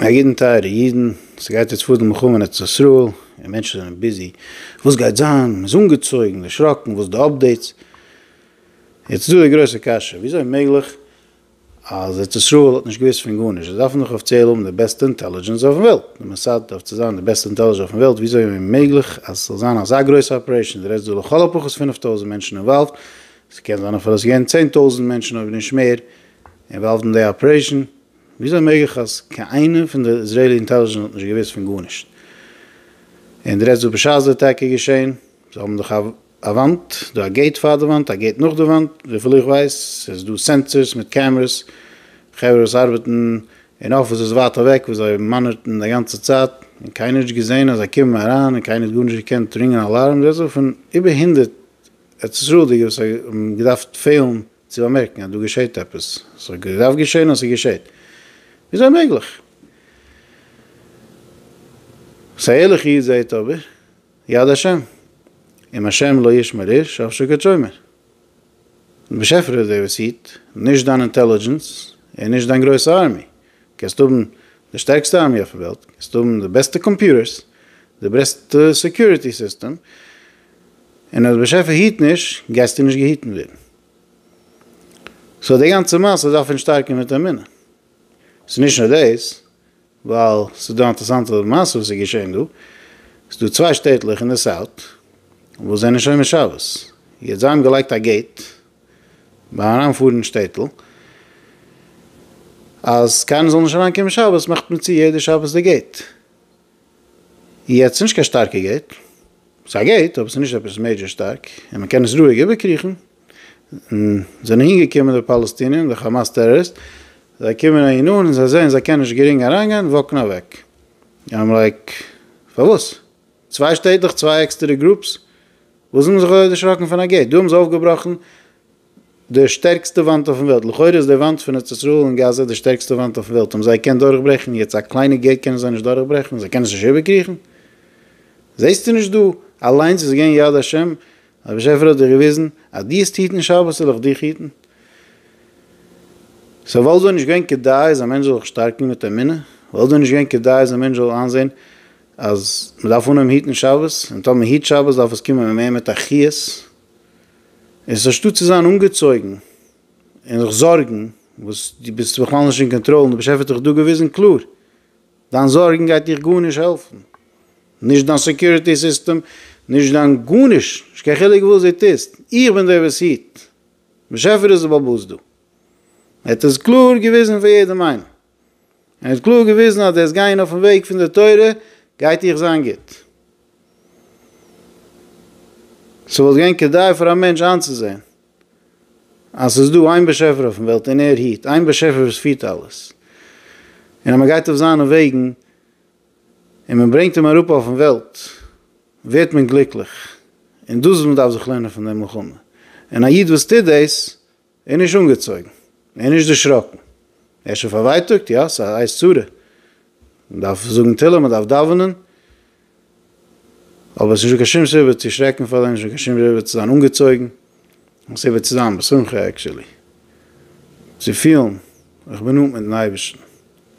א ידען טייערע אידן, ס'גייט יעצט פאר די מלחמה אין ארץ ישראל, און מענטשן זענען ביזי וואס גייט זיין, מ'איז אנגעצויגן, דערשראקן, וואס די אפדעיטס? יעצט איז דא די גרויסע קשיא, וויאזוי איז מעגליך אז ארץ ישראל האט נישט געוואוסט פון גארנישט, זיי דארפן דאך אפיציעל האבן די בעסטע אינטעלידזשענס אויפן וועלט, די מאסאד דארף צו זיין די בעסטע אינטעלידזשענס אויפן וועלט, וויאזוי איז מעגליך אז ס'זאל זיין אזא גרויסע אפערעישן, די רעדסט דא לכל הפחות פֿינף טויזנט מענטשן אינוואלווד, ס'קען זיין אפילו ס'איז געווען צען טויזנט מענטשן אויב נישט מער אינוואלווד אין די אפערעישן, וויאזוי מעג איך אז קיין איינער פון די איזרעילי אינטעליזשענס האט נישט געוויסט פון גארנישט? און די רעדסט וואס בשעת די אטאקע איז געשען? זיי האבן דאך א וואנט דא, א געיט פאר די וואנט, א געיט נאך די וואנט, וויפיל איך ווייס איז דא סענסערס מיט קעמערעס, חברה וואס ארבעטן אין אפיסעס ווייט אוועק וואס זיי מאנערטן די גאנצע צייט און קיינער האט נישט געזען אז זיי קומען אריין און קיינער האט גארנישט געקענט רינגען אלארם, די רעדסט דא פון איבער הונדערט ארץ ישראל'דיגע וואס האבן געדארפט פעלן צו באמערקן אז דא געשעט עפעס, עס האט געדארפט געשען און עס געשעט, וויאזוי מעגליך? וואס א ערליכע איד זעהט אבער, יד השם, אם השם לא ישמר איש אף שקד שומר, דער באשעפער איז דער וואס היט, נישט דיין אינטעלידזשענס און נישט דיין גרויסע ארמי, קענסט האבן די שטערקסטע ארמי אויפן וועלט, קענסט האבן די בעסטע קאמפיוטערס, די בעסטע סעקיוריטי סיסטעם, און אז באשעפער היט נישט גייסטו נישט געהיטן ווערן. סאו די גאנצע מעשה דארף פון שטארקן מיט אמונה. ס'איז נישט נאר דאס, ווייל ס'איז דא אינטערסאנטע מעשה וואס איז געשען דא. ס'איז דא צוויי שטעטלעך אין די סאוט וואס זענען שומר שבת. יעצט זיי האבן געלייגט א געיט ביים אריינפארן אין שטעטל אז קיינער זאל נישט אריינקומען שבת מאכט מען צו יעדע שבת די געיט. יעצט נישט קיין שטארקע געיט, ס'איז א געיט אבער ס'איז נישט עפעס מעידזשער שטארק און מ'קען עס רואיג איבערקריכן, זענען אהינגעקומען די פאלעסטינער און די חאמאס טעראריסט, זיי קומען אהין אן און זיי זעען זיי קענען נישט גרינג אריינגיין וואקן אוועק, איים לייק פארוואס? צוויי שטעטלעך צוויי עקסטערע גרופס? וואס האבן זיי זיך אזוי דערשראקן פון א געיט? דא האבן זיי אויפגעבראכן די שטערקסטע וואנט אויפן וועלט, לכאורה איז די וואנט פון ארץ ישראל און גאזא די שטערקסטע וואנט אויפן וועלט, האבן זיי געקענט דורכברעכן, יעצט א קליינע געיט קענען זיי נישט דורכברעכן, זיי קענען עס נישט איבערקריכן? זעסטו נישט דא אליינס איז געווען יד השם, דער באשעפער האט דיר געוויזן אז דו האסט היטן שבת וועל איך דיך היטן, סאו וואלט דאן נישט געווען כדאי אז א מענטש זאל זיך שטארקן מיט אמונה? וואלט דאן נישט געווען כדאי אז א מענטש זאל איינזען אז מען דארף אנהויבן היטן שבת, און טאמער מען היט שבת דארף עס קומען מער מיט א חיות, און ס'אנשטאט צו זיין אנגעצויגן און זיך זארגן וואס דו ביסט בכלל נישט אין קאנטראל און דער באשעפער האט דיך דא געוויזן קלאר, דיין זארגן גייט דיך גארנישט העלפן, נישט דיין סעקיוריטי סיסטעם, נישט דיין גארנישט, נישט קיין חילוק וואס דו טוסט, איך בין דער וואס היט, דער באשעפער איז דער בעל הבית דא, ער האט עס קלאר געוויזן פאר יעדעם איינעם. ער האט קלאר געוויזן אז דאס גיין אויפן וועג פון די תורה גייט איר זיין גוט. ס'וואלט געווען כדאי פאר א מענטש איינצוזען אז ס'איז דא איין באשעפער אויפן וועלט און ער היט, איין באשעפער וואס פירט אלעס, און אז מען גייט אויף זיינע וועגן און מען ברענגט אים אראפ אויפן וועלט ווערט מען גליקליך, און דאס איז וואס מען דארף זיך לערנען פון דעם מלחמה, און א איד וואס טוט דאס ער איז נישט אנגעצויגן, ער איז נישט דערשראקן, ער איז שוין פארווייטאגט, יא, ס'איז א עת צרה, מ'דארף זאגן תהלים, מ'דארף דאווענען, אבער ס'איז נישט דא קיין שום סיבה צו שרעקן פאר דעם, נישט דא קיין שום סיבה צו זיין אנגעצויגן, און סיבה צו זיין בשמחה עקשעלי, צו פילן איך בין נאנט מיט'ן אייבערשטן,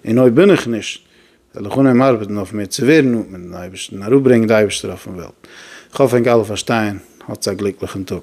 און אויב בין איך נישט, וועל איך אנהייבן ארבעטן אויף מיר צו ווערן נאנט מיט'ן אייבערשטן, אראפברענגען די אייבערשטער אויפ'ן וועלט. כ'האף ענק אלע פארשטייען, האטס א גליקליכן טאג.